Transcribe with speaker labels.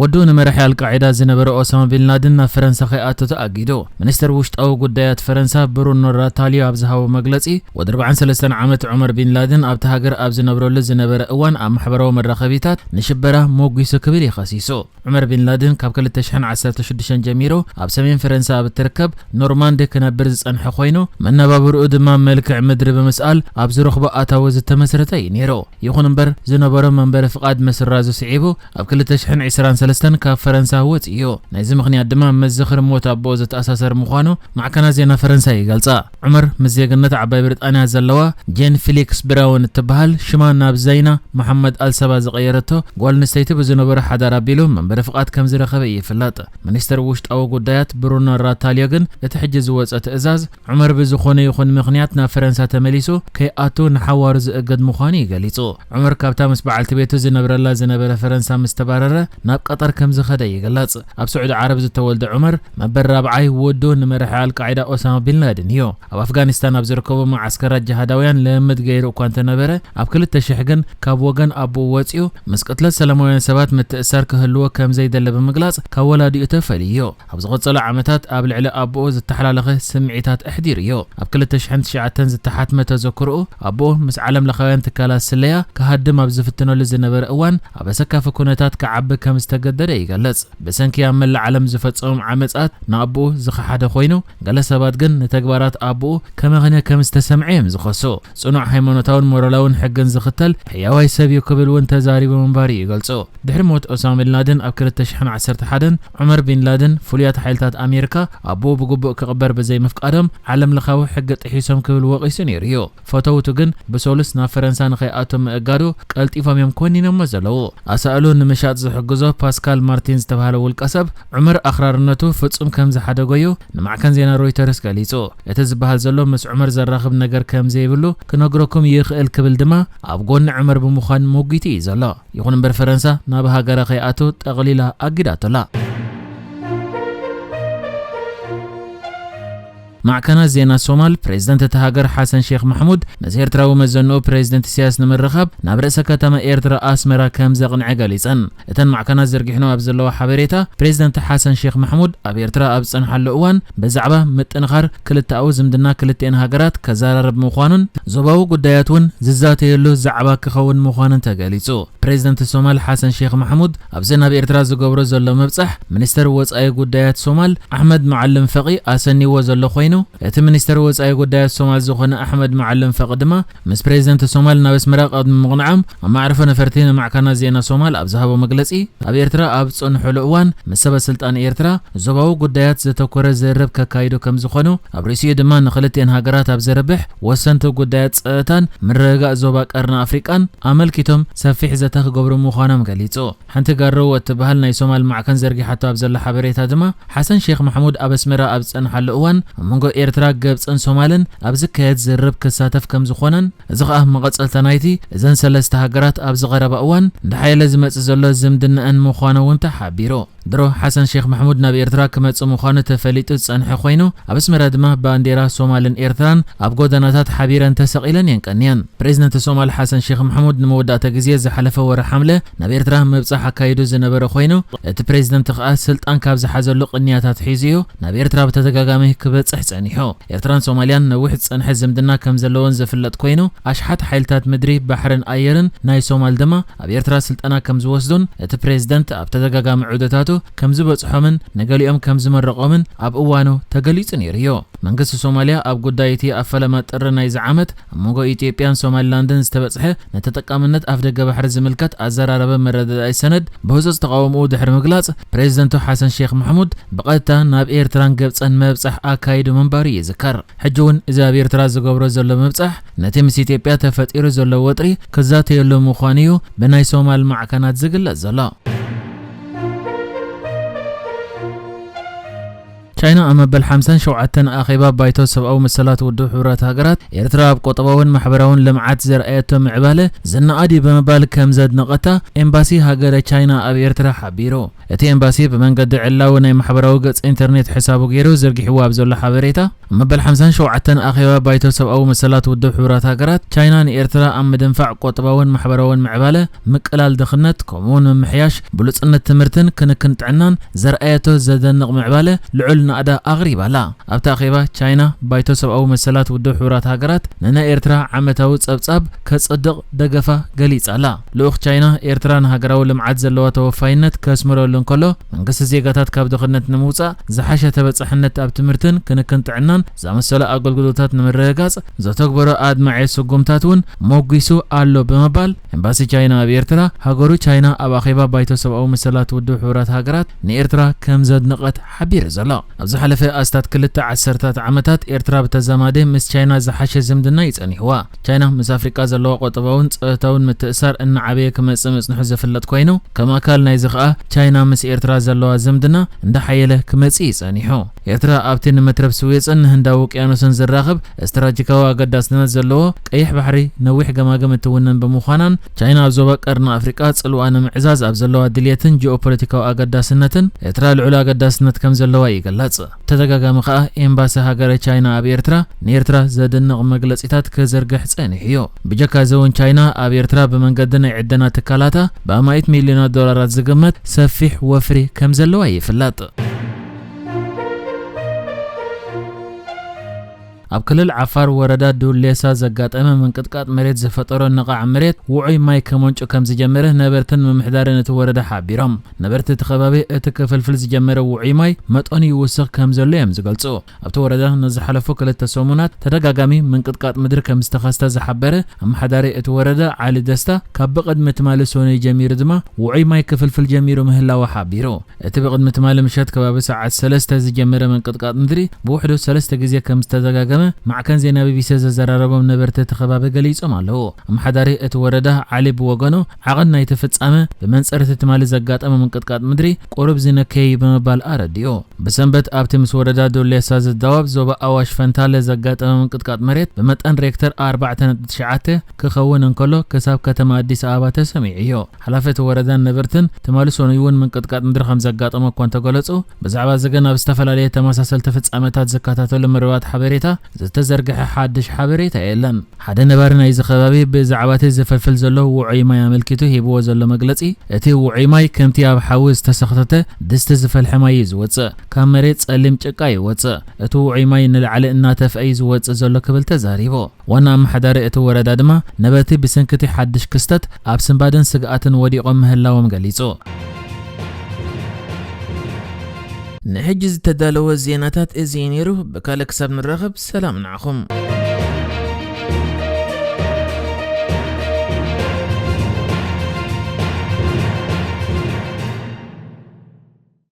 Speaker 1: ወዱ ንመራሒ ኣልቃዒዳ ዝነበረ ኦሳማ ቢንላድን ናብ ፈረንሳ ከይኣቱ ተኣጊዱ። ሚኒስተር ውሽጣዊ ጉዳያት ፈረንሳ ብሩኖ ራታልዮ ኣብ ዝሃቦ መግለጺ፣ ወዲ ኣርብዓን ሰለስተን ዓመት ዑመር ቢንላድን ኣብታ ሃገር ኣብ ዝነብረሉ ዝነበረ እዋን ኣብ ማሕበራዊ መራኸቢታት ንሽበራ ሞጒሱ ክብል እዩ ከሲሱ። ዑመር ቢንላድን ካብ ክልተ ሽሕን ዓሰርተ ሽዱሽተን ጀሚሩ ኣብ ሰሜን ፈረንሳ ኣብ እትርከብ ኖርማንዲ ክነብር ዝጸንሐ ኮይኑ፣ መነባብሮኡ ድማ መልክዕ ምድሪ ብምስኣል ኣብ ዝረኽቦ ኣታዊ ዝተመስረተ እዩ ነይሩ። ይኹን እምበር ዝነበሮ መንበሪ ፍቓድ ምስራዙ ስዒቡ ኣብ ክልተ ሽሕን ዕስራን ሰለስተን ካብ ፈረንሳ ወጺኡ እዩ። ናይዚ ምኽንያት ድማ ምስ ዝኽሪ ሞት ኣቦኡ ዝተኣሳሰር ምዃኑ ማዕከናት ዜና ፈረንሳ ይገልጻ። ዑመር ምስ ዜግነት ዓባይ ብሪጣንያ ዘለዋ ጄን ፊሊክስ ብራውን እትበሃል ሽማ ናብ ዘይና መሓመድ ኣል ሰባ ዝቐየረቶ ጓል ኣንስተይቲ ብዝነበሮ ሓዳር ኣቢሉ መንበሪ ፍቓድ ከም ዝረኸበ እዩ ይፍለጥ። ሚኒስተር ውሽጣዊ ጉዳያት ብሩኖ ራታልዮ ግን እቲ ሕጂ ዝወጸ ትእዛዝ ዑመር ብዝኾነ ይኹን ምኽንያት ናብ ፈረንሳ ተመሊሱ ከይኣቱ ንሓዋሩ ዝእገድ ምዃኑ እዩ ገሊጹ። ዑመር ካብታ ምስ በዓልቲ ቤቱ ዝነብረላ ዝነበረ ፈረንሳ ምስ ተባረረ ናብ ቀጠር ከም ዝኸደ ይግለጽ። ኣብ ስዑዲ ዓረብ ዝተወልደ ዑመር መበል ራብዓይ ወዱ ንመራሒ ኣልቃዒዳ ኦሳማ ቢን ላድን እዩ። ኣብ ኣፍጋኒስታን ኣብ ዝርከቡ መዓስከራት ጅሃዳውያን ልምምድ ገይሩ እኳ እንተነበረ ኣብ ክልተ ሽሕ ግን ካብ ወገን ኣቦኡ ወጺኡ ምስ ቅትለት ሰላማውያን ሰባት ምትእስሳር ክህልዎ ከም ዘይደለ ብምግላጽ ካብ ወላዲኡ ተፈልዩ እዩ። ኣብ ዝቐጸሉ ዓመታት ኣብ ልዕሊ ኣቦኡ ዝተሓላለኸ ስምዒታት ኣሕዲሩዮ። ኣብ ክልተ ሽሕን ትሽዓተን ዝተሓትመ ተዘክሮኡ፣ ኣቦኡ ምስ ዓለምለኻውያን ትካላት ስለያ ክሃድም ኣብ ዝፍትነሉ ዝነበረ እዋን ኣብ ኣሰካፊ ኩነታት ክዓቢ ከም ዝተገደደ ይገልጽ። ብሰንኪ ኣብ መላእ ዓለም ዝፈጸሞም ዓመጻት ንኣቦኡ ዝኸሓደ ኮይኑ፣ ገለ ሰባት ግን ንተግባራት ኣቦኡ ከመኽንዮ ከም ዝተሰምዐ እዮም ዝኸሱ። ጽኑዕ ሃይማኖታውን ሞራላውን ሕግን ዝኽተል ሕያዋይ ሰብ እዩ ክብል እውን ተዛሪቡ ምንባሩ ይገልጹ። ድሕሪ ሞት ኦሳማ ቢን ላደን ኣብ ክልተ ሽሕን ዓሰርተ ሓደን፣ ዑመር ቢን ላደን፣ ፍሉያት ሓይልታት ኣሜሪካ ኣቦኡ ብግቡእ ክቕበር ብዘይምፍቃዶም ዓለምለኻዊ ሕጊ ጥሒሶም ክብል ወቒሱ ነይሩ እዩ። ፈተውቱ ግን ብሰሉስ ናብ ፈረንሳ ንኸይኣቱ ምእጋዱ ቀልጢፎም እዮም ኮኒኖሞ ዘለዉ። ኣሳእሉ ንምሻጥ ዝሕግዞ ፓስካል ማርቲን ዝተብሃለ ውልቀሰብ፣ ዑመር ኣኽራርነቱ ፍጹም ከም ዝሓደጎ'ዩ ንማዕከን ዜና ሮይተርስ ገሊጹ። እቲ ዝበሃል ዘሎ ምስ ዑመር ዘራኽብ ነገር ከም ዘይብሉ ክነግረኩም ይኽእል ክብል ድማ ኣብ ጎኒ ዑመር ብምዃን ሞጒቱ እዩ ዘሎ። ይኹን እምበር ፈረንሳ ናብ ሃገራ ከይኣቱ ጠቕሊላ ኣጊዳቶ ኣላ። ማዕከናት ዜና ሶማል፣ ፕሬዝደንት እታ ሃገር ሓሰን ሼኽ ማሕሙድ ምስ ኤርትራዊ መዘንኡ ፕሬዝደንት ኢሳያስ ንምርኻብ ናብ ርእሰ ከተማ ኤርትራ ኣስመራ ከምዘቕንዐ ገሊጸን። እተን ማዕከናት ዘርጊሕንኦ ኣብ ዘለዋ ሓበሬታ፣ ፕሬዝደንት ሓሰን ሼኽ ማሕሙድ ኣብ ኤርትራ ኣብ ዝጸንሓሉ እዋን ብዛዕባ ምጥንኻር ክልተኣዊ ዝምድና ክልቲኤን ሃገራት ከዘራርብ ምዃኑን፣ ዞባዊ ጉዳያት'ውን ዝዛተየሉ ዛዕባ ክኸውን ምዃኑን ተገሊጹ። ፕሬዝደንት ሶማል ሓሰን ሼኽ ማሕሙድ፣ ኣብዚ ናብ ኤርትራ ዝገብሮ ዘሎ ምብጻሕ፣ ሚኒስተር ወጻኢ ጉዳያት ሶማል ኣሕመድ መዓልም ፈቒ ኣሰንይዎ ዘሎ ኮይኑ፣ እቲ ሚኒስተር ወጻኢ ጉዳያት ሶማል ዝኾነ ኣሕመድ መዓልም ፈቒ ድማ ምስ ፕረዚደንት ሶማል ናብ ኣስመራ ቅድሚ ምቕንዖም ኣብ መዓርፎ ነፈርቲ ንማዕከናት ዜና ሶማል ኣብ ዝሃቦ መግለጺ ኣብ ኤርትራ ኣብ ዝጸንሑሉ እዋን ምስ ሰበስልጣን ኤርትራ ዞባዊ ጉዳያት ዘተኮረ ዝርርብ ከካይዱ ከምዝኾኑ ኣብ ርእሲኡ ድማ ንኽልቲኤን ሃገራት ኣብ ዘርብሕ ወሰንቲ ጉዳያት ጸጥታን ምርግጋእ ዞባ ቀርኒ ኣፍሪቃን ኣመልኪቶም ሰፊሕ ዘተ ክገብሩ ምዃኖም ገሊጹ። ሓንቲ ጋሮ እትበሃል ናይ ሶማል ማዕከን ዘርጊሓቶ ኣብ ዘላ ሓበሬታ ድማ፣ ሓሰን ሼኽ ማሕሙድ ኣብ ኣስመራ ኣብ ዝጸንሓሉ እዋን ኣብ መንጎ ኤርትራ፣ ግብጽን ሶማልን ኣብ ዝካየድ ዝርርብ ክሳተፍ ከም ዝኾነን እዚ ከኣ መቐጸልታ ናይቲ እዘን ሰለስተ ሃገራት ኣብዚ ቀረባ እዋን እንዳሓየለ ዝመጽእ ዘሎ ዝምድነኣን ምዃኑ'ውን ተሓቢሩ። ድሮ ሓሰን ሼኽ ማሕሙድ ናብ ኤርትራ ክመጽእ ምዃኑ ተፈሊጡ ዝጸንሐ ኮይኑ፣ ኣብ ኣስመራ ድማ ባንዴራ ሶማልን ኤርትራን ኣብ ጎደናታት ሓቢረን ተሰቒለን እየን ቀንየን። ፕረዚደንት ሶማል ሓሰን ሼኽ ማሕሙድ ንመወዳእታ ግዜ ዝሓለፈ ወርሒ ሓምለ ናብ ኤርትራ ምብጻሕ ኣካይዱ ዝነበረ ኮይኑ፣ እቲ ፕረዚደንት ከኣ ስልጣን ካብ ዝሓዘሉ ቅንያት ኣትሒዙ እዩ ናብ ኤርትራ ብተደጋጋሚ ክበጽሕ ጸኒሑ። ኤርትራን ሶማልያን ነዊሕ ዝጸንሐ ዝምድና ከም ዘለወን ዝፍለጥ ኮይኑ፣ ኣሽሓት ሓይልታት ምድሪ፣ ባሕርን ኣየርን ናይ ሶማል ድማ፣ ኣብ ኤርትራ ስልጠና ከም ዝወስዱን እቲ ፕሬዝደንት ኣብ ተደጋጋሚ ዑደታቱ ከም ዝበጽሖምን ንገሊኦም ከም ዝመረቖምን ኣብ እዋኑ ተገሊጹ ነይሩ'ዩ። መንግስቲ ሶማልያ ኣብ ጉዳይ እቲ ኣብ ፈለማ ጥሪ ናይዚ ዓመት ኣብ መንጎ ኢትዮጵያን ሶማሊላንድን ዝተበጽሐ ንተጠቃምነት ኣፍደገ ባሕሪ ዝምልከት ኣዘራራቢ መረዳዳኢ ሰነድ ብህጹጽ ተቓውምኡ ድሕሪ ምግላጽ ፕሬዝደንቱ ሓሰን ሼኽ ማሕሙድ ብቐጥታ ናብ ኤርትራን ግብጽን ምብጻሕ ኣካይዱ ምንባሩ ይዝከር። ሕጂ ውን እዚ ኣብ ኤርትራ ዝገብሮ ዘሎ ምብጻሕ ነቲ ምስ ኢትዮጵያ ተፈጢሩ ዘሎ ወጥሪ ክዛተየሉ ምዃኑ እዩ ብናይ ሶማል ማዕከናት ዝግለጽ ዘሎ። ቻይና ኣብ መበል ሓምሳን ሸውዓተን ኣኼባ ባይቶ ሰብኣዊ መሰላት ውድብ ሕቡራት ሃገራት፣ ኤርትራ ኣብ ቆጠባውን ማሕበራውን ልምዓት ዘርኣየቶ ምዕባለ ዝነኣድ እዩ ብምባል ከም ዘድነቐታ ኤምባሲ ሃገረ ቻይና ኣብ ኤርትራ ሓቢሩ። እቲ ኤምባሲ ብመንገዲ ዕላዊ ናይ ማሕበራዊ ገጽ ኢንተርኔት ሕሳቡ ገይሩ ዘርጊሕዎ ኣብ ዘሎ ሓበሬታ፣ ኣብ መበል ሓምሳን ሸውዓተን ኣኼባ ባይቶ ሰብኣዊ መሰላት ውድብ ሕቡራት ሃገራት፣ ቻይና ንኤርትራ ኣብ ምድንፋዕ ቈጠባውን ማሕበራውን ምዕባለ፣ ምቅላል ድኽነት፣ ከምኡ'ውን ምምሕያሽ ብሉጽነት ትምህርትን ክንክን ጥዕናን ዘርኣየቶ ዘደንቕ ምዕባለ ልዑል ናእዳ ኣቕሪባ ኣላ። ኣብቲ ኣኼባ ቻይና፣ ባይቶ ሰብኣዊ መሰላት ውድብ ሕቡራት ሃገራት ንናይ ኤርትራ ዓመታዊ ጸብጻብ ከጽድቕ ደገፋ ገሊጻ ኣላ። ልኡኽ ቻይና፣ ኤርትራ ንሃገራዊ ልምዓት ዘለዋ ተወፋይነት ከስምረሉ እንከሎ፣ መንግስቲ ዜጋታት ካብ ድኽነት ንምውጻእ፣ ዝሓሸ ተበጻሕነት ኣብ ትምህርትን ክንክን ጥዕናን ዝኣመሰሉ ኣገልግሎታት ንምርግጋጽ ዘተግበሮ ኣድማዒ ስጉምታት እውን ሞጒሱ ኣሎ ብምባል፣ ኤምባሲ ቻይና ኣብ ኤርትራ፣ ሃገሩ ቻይና ኣብ ኣኼባ ባይቶ ሰብኣዊ መሰላት ውድብ ሕቡራት ሃገራት ንኤርትራ ከም ዘድነቐት ሓቢሩ ዘሎ። ኣብ ዝሓለፈ ኣስታት ክልተ ዓሰርታት ዓመታት፣ ኤርትራ ብተዛማዲ ምስ ቻይና ዝሓሸ ዝምድና እዩ ጸኒሑዋ። ቻይና ምስ ኣፍሪቃ ዘለዋ ቖጠባውን ጸወታውን ምትእስሳር እናዓበየ ክመጽእ ምጽንሑ ዝፍለጥ ኮይኑ፣ ከም ኣካል ናይዚ ከኣ ቻይና ምስ ኤርትራ ዘለዋ ዝምድና እንዳሓየለ ክመጽእ እዩ ጸኒሑ። ኤርትራ ኣብቲ ንመትረብ ስዌጽን ንህንዳዊ ውቅያኖስን ዘራኽብ እስትራጂካዊ ኣገዳስነት ዘለዎ ቀይሕ ባሕሪ ነዊሕ ገማግም እትውንን ብምዃናን ቻይና ኣብ ዞባ ቀርኒ ኣፍሪቃ ጽልዋ ንምዕዛዝ ኣብ ዘለዋ ድልየትን ጂኦፖለቲካዊ ኣገዳስነትን ኤርትራ ልዑል ኣገዳስነት ከምዘለዋ ይግለጽ። ተደጋጋሚ ከኣ ኤምባሲ ሃገረ ቻይና ኣብ ኤርትራ ንኤርትራ ዘድንቕ መግለጺታት ክዝርግሕ ጸኒሑዮ። ብጀካዚውን ቻይና ኣብ ኤርትራ ብመንገዲ ናይ ዕደና ትካላታ ብኣማኢት ሚልዮናት ዶላራት ዝግመት ሰፊሕ ወፍሪ ከምዘለዋ ይፍለጥ። ኣብ ክልል ዓፋር ወረዳ ዱሌሳ ዘጋጠመ ምንቅጥቃጥ መሬት ዝፈጠሮ ነቓዕ መሬት ውዑይ ማይ ከመንጩ ከምዝጀመረ ነበርትን ምምሕዳርን እቲ ወረዳ ሓቢሮም። ነበርቲ እቲ ከባቢ እቲ ክፍልፍል ዝጀመረ ውዑይ ማይ መጠኑ ይውስኽ ከምዘሎ እዮም ዝገልፁ። ኣብቲ ወረዳ ንዝሓለፉ ክልተ ሰሙናት ተደጋጋሚ ምንቅጥቃጥ ምድሪ ከምዝተኸስተ ዝሓበረ ኣመሓዳሪ እቲ ወረዳ ዓሊ ደስታ ካብ ብቕድሚ ትማሊ ሰኑይ ጀሚሩ ድማ ውዑይ ማይ ክፍልፍል ጀሚሩ ምህላዉ ሓቢሩ። እቲ ብቕድሚ ትማሊ ምሸት ከባቢ ሰዓት ሰለስተ ዝጀመረ ምንቅጥቃጥ ምድሪ ብውሕዱ ሰለስተ ግዜ ከም ዝተደጋገመ ማዕከን ዜና ቢቢሲ ዘዘራረቦም ነበርቲ እቲ ከባቢ ገሊጾም ኣለዉ። ኣመሓዳሪ እቲ ወረዳ ዓሊ ብወገኑ ዓቐን ናይቲ ፍጻመ ብመንጽር እቲ ትማሊ ዘጋጠመ ምንቅጥቃጥ ምድሪ ቁሩብ ዝነከየ እዩ ብምባል ኣረዲኡ። ብሰንበት ኣብቲ ምስ ወረዳ ዶሌሳ ዝዳወብ ዞባ ኣዋሽ ፈንታለ ዘጋጠመ ምንቅጥቃጥ መሬት ብመጠን ሬክተር ኣርባዕተ ነጥቢ ትሽዓተ ክኸውን እንከሎ ክሳብ ከተማ ኣዲስ ኣበባ ተሰሚዑ እዩ። ሓላፊ እቲ ወረዳን ነበርትን ትማሊ ሰኑይ'ውን ምንቅጥቃጥ ምድሪ ከምዘጋጠሞ እኳ እንተገለጹ፣ ብዛዕባ እዚ ግን ኣብ ዝተፈላለየ ተመሳሰልቲ ፍጻመታት ዝከታተሉ መርበባት ሓበሬታ ዝተዘርግሐ ሓድሽ ሓበሬታ የለን። ሓደ ነባሪ ናይዚ ከባቢ ብዛዕባ'ቲ ዝፍልፍል ዘሎ ውዑይ ማይ ኣመልኪቱ ሂብዎ ዘሎ መግለጺ፣ እቲ ውዑይ ማይ ከምቲ ኣብ ሓዊ ዝተሰኽተተ ድስቲ ዝፈልሐ ማይ እዩ ዝወጽእ። ካብ መሬት ጸሊም ጭቃ ይወጽእ። እቲ ውዑይ ማይ ንላዕሊ እናተፍኣ'ዩ ዝወጽእ ዘሎ ክብል ተዛሪቡ። ዋና ኣመሓዳሪ እቲ ወረዳ ድማ ነበርቲ ብሰንኪ እቲ ሓድሽ ክስተት ኣብ ስንባደን ስግኣትን ወዲቖም ምህላዎም ገሊጹ። ንሕጂ ዝተዳለወ ዜናታት እዚ እዩ ነይሩ፣ ብካልእ ክሳብ ንራኸብ ሰላም ንዓኹም።